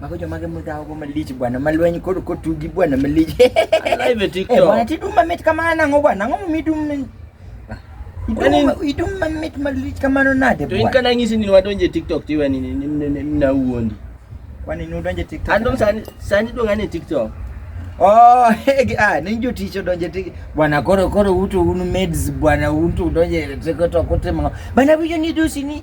Mago joma gi mudhawo go malich bwana, malweny kod kotugi bwana malich. Live e Eh, TikTok. bwana tidum mamit kamano nang'o bwana, nang'o midum min? Kwani- Idum- Idum mamit malich kamano nade To in bwana? kana ng'isi ni wadonje TikTok tiwe ni ni- ni- ni- ni- na wuondi. Kwani nudonje TikTok? Andom sani sani dong ane TikTok. Oh, hegi, ah, ni jotich odonje tik bwana koro koro uto un maids bwana unto udonje TikTok utimo. Bana wiyo ni dusi ni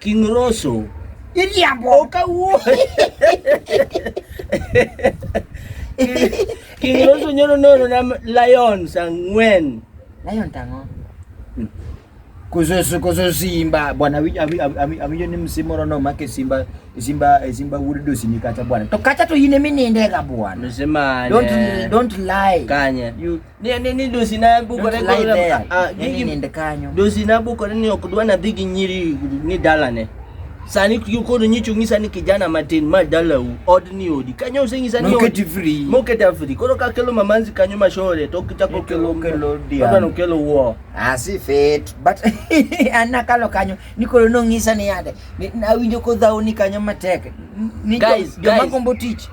King Rosso. Iriambo. Okawuo. King Rosso nyoro nono na Lions ang'wen. Lion tango. Hmm. Kuzosu kuzo Simba bwana awinjo ni msimoro no make Simba Simba Simba wuod dosi ni kacha bwana. To kacha to yine mininde ga bwana. Msema. Don't don't lie. Kanye. You Ni ni ni dosi na buko ne go na ah gigi nende kanyo. Dosi na buko ne ok dwa na dhigi nyiri ni dala ne. Sani kiyo kono nyicho ngisa ni kijana matin ma dala u od ni odi. Kanyo se ngisa ni odi. free. Moket free. Kono ka kelo mamanzi kanyo mashore to kita ko kelo kelo dia. Kono kelo wo. Ah si fit but anna kalo kanyo ni kono no ngisa ni yade. Na winjo ko dhauni kanyo matek. Ni guys, guys. Jomagombo tich.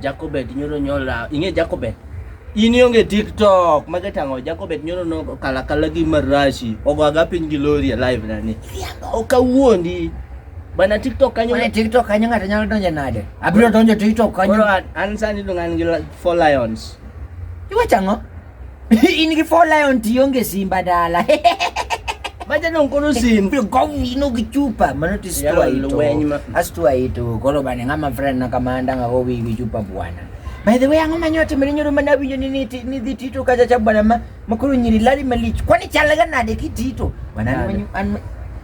Jacobet nyoro nyola ing'e Jacobet in ionge tiktok mage tang'o Jacobet nyoro no kalakala gi marashi ogwaga piny gi lori e live na ni ok awuondi bana tiktok kanyo Kwenye TikTok kanyo ng'ato nyalo donjo nade? Abiro donjo TikTok kanyo. koro an- an sani dong' an gi la- four lions Iwacho ang'o? in gi four lion tionge simba dala maja no kono simba pio gowi no gi chupa mano ti stua ito lweny ma- astua ito kolo bane ngama friend na kamanda nga gowi gi chupa bwana by the way ang'o manyote mene nyoro mana winjo ni ni ti- ni dhi tito kacha cha bwana ma makoro nyiri lali malich kwani chalaga nade kitito bwana an Nade? manyo- an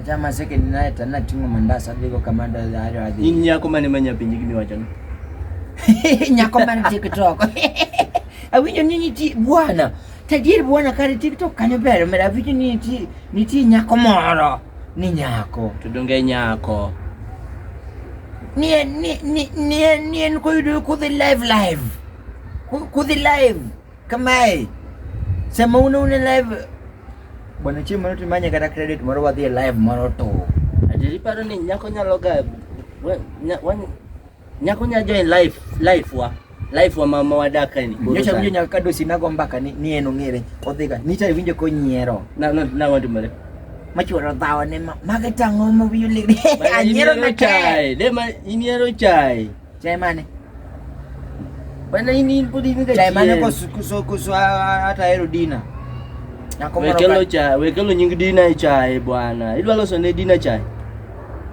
Achama seke ni naye tana tingo mandasa digo kamanda ya hayo hadi. Ni nyako mane manya pinji kimi wachana. Nyako mane TikTok. Awinyo nini ti bwana. Tajiri bwana kari TikTok kanyo bere mera awinyo nini ti ni ti nyako moro. Ni nyako. Tudonge nyako. Ni ni ni ni ni en koyudo kudhi live live. Kudhi live. Kamae, sama un une live bwana chieng' moro timanye kata credit moro wadhi e live moro to ati iparo ni nyako nyalo ga we- nya- wan- nyako nya join life life wa life wa mama wadaka ni Koro nyocha sani. winjo nyaka kadosi nago mbaka ni ni en ong'ere odhiga nyicha winjo konyiero na na na wantu mare machuoro dhawa ne ma- mage tang'o ma wiyo lig anyiero na kae de ma iniero chai Chai mane? Bana hii ni budi mika chai mane kwa kuso kuso hata hero dina. Wekelo cha wekelo nyingi dina chai bwana. Idwa loso ne dina chai.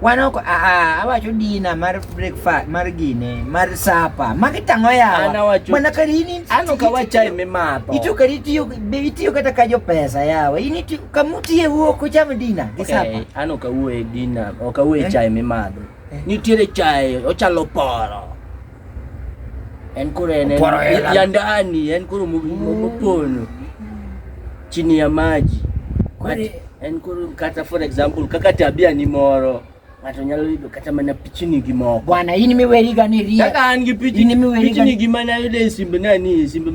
Wana ko a a awacho dina mar breakfast mar gine mar sapa magi tang'o yawa mana kari ini ano ka wachai me mapo ito kari tiyo be itiyo kata ka jo pesa yawa ini kamuti e wuok cham dina gi sapa ano ka wuo e dina o ka wuo e chai me madho Nitiere chae ochalo poro. En koro en ya ndani, en koro mopono chini ya maji. En koro kata for example kaka tabia ni moro ng'ato nyalo yudo kata mana pichini gi moko. Bwana, in miweri gani rie? Kaka an gi pichini, pichini gi mana yudo e simb nani, e simb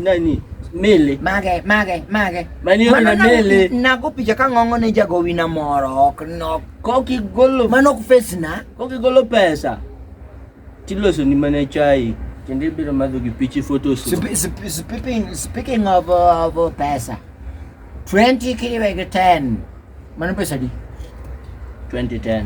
nani mele mage mage mage mani na mele nago picha ka ng'ongo ne jagowina moro ok nok Kokigolo mano ok face na. Kokigolo pesa tiloso ni mana chai kendo ibiro madho gi pichi photos. Speaking, speaking of, uh, of uh, pesa 20 kiriwe gi 10 mano pesa di 2010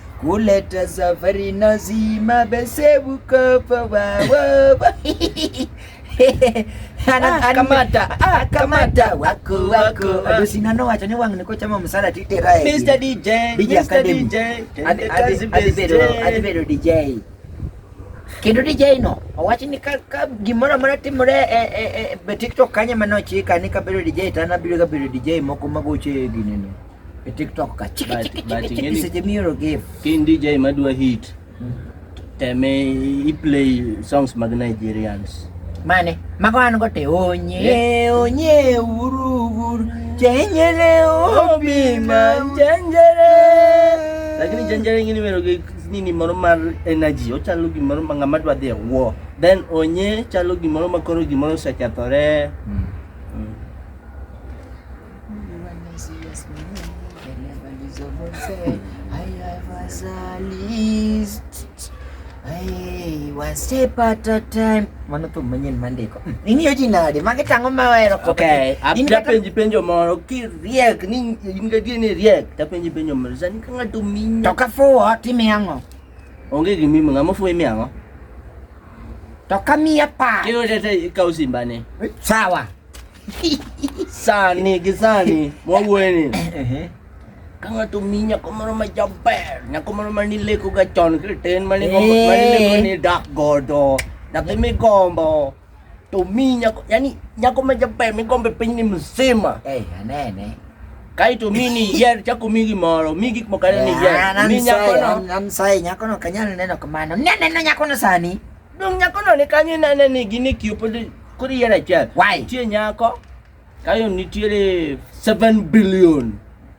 Kuleta safari nazima besebu kopa wawa ah, kamata ah, kamata wako wako ado sinano wacho ni wang' niko chamo msala titera e Mr DJ DJ Academy adi bedo DJ kendo DJ no owacho ni ka, ka gimoro amora timore e, e, e, e TikTok kanye mane ochika ni kabedo DJ to an abiro kabedo DJ moko magocho e ginene E TikTok ka chiki chiki chiki chiki seche mioro give. Kin DJ madwa hit. Hmm. Teme i play songs mag Nigerians. Mane, mago an go te onye, onye uru uru, chenjere obi ma chenjere. Lakini chenjere ngini mero gi nini moro mar energy, ochalo gimoro ma ng'ama dwa dhi e war. Then onye chalo gimoro ma koro gimoro osekethore. Mm. Mano thum manyien mandiko. Hmm. Ing'iyo ji nade? Magi tang'o ma wero. Okay. Apenji penjo moro kiriek ni in gadier ni riek tapenji penjo moro. Sani ka ng'ato minya. To ka fuwo timi ang'o? Onge gimimo ng'ama fuwo imi ang'o? To ka miya pa. Kiyo tete ikaw simbane. Sawa. Sani gi sani mwawuoyeni ka ng'ato mi nyako moro ma jaber nyako moro ma nilekoga chon kriten ma nigombo ma nileko ni dak godo nyathi migombo to mi nyako yani nyako ma jaber migombo e pinyni mzima Eh, anene. kaeto mi ni yier chako mi gimoro mi gik moko ariyo ni yier mi nyakono An sai nyakono kanyal neno kamano. Ne neno nyakono sani. Dong nyako no ni kanyo inene ni gini kiopo koro yier achiel. Why? Nitie nyako kayo nitiere 7 billion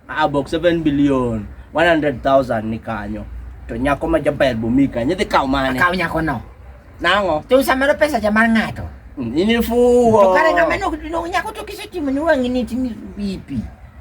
abok 7 billion 100,000 ni kanyo to nyako ma jaber bomi kanyo idhi kawo mane Akaw nyako no. nang'o To samoro pesa cha mar ng'ato. inifuwo To kare ng'ama no no nyako to kisetimo ni wang'i ni timi bipi.